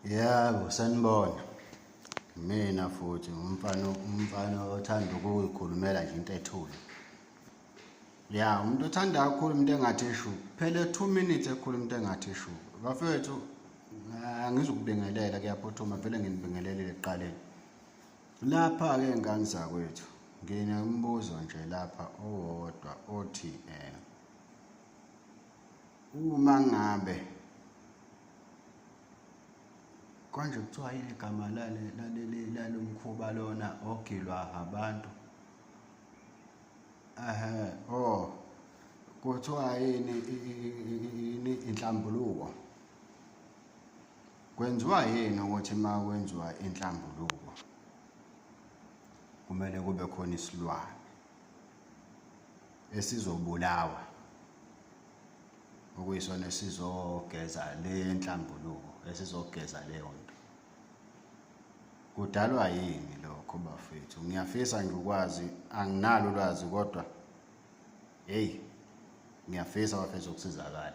yebo sanibona mina futhi umfana umfana othanda ukuyikhulumela nje into ethule ya umuntu othanda kakhulu umuntu engathi eshu phele two minutes ekhulu umuntu engathi eshu bafethu angizukubingelela kuyaphuthuma vele nginibingelelile ekuqaleni lapha-ke ngane zakwethu nginombuzo nje lapha owodwa othi um uma ngabe konje kuthiwa yini igama lale laleli lalomkhuba lona ogilwa abantu ehe oh kuthiwa yini yini inhlambuluko kwenziwa yini ukuthi uma kwenziwa inhlambuluko kumele kube khona isilwane esizobulawa okuyisona esizogeza le nhlambuluko esizogeza leyo nto kudalwa yini lokho bafethu ngiyafisa ngikwazi anginalo ulwazi kodwa heyi ngiyafisa bafethu ukusizakala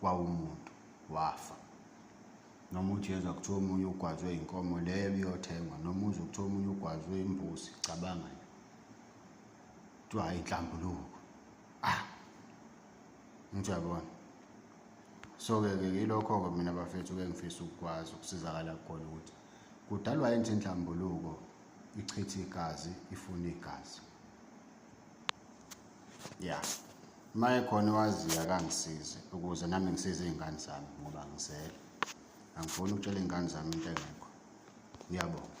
kwawumuntu wafa noma uJesu akuthiwa omunye ugwazwe inkomo leyo biyothengwa noma uze kuthiwa omunye ugwazwe imbuzi cabanga nje kuthiwa hayi inhlambuluko ah ngiyabona so-ke ke yilokho-ke mina bafethu-ke ngifisa ukukwazi ukusizakala khona ukuthi kudalwa yini inhlambuluko ichithe igazi ifuna igazi ya uma ekhona owaziyo akangisize ukuze nami ngisize iy'ngane zami ngoba ngisele angifuni ukutshela iy'ngane zami into engekho ngiyabonga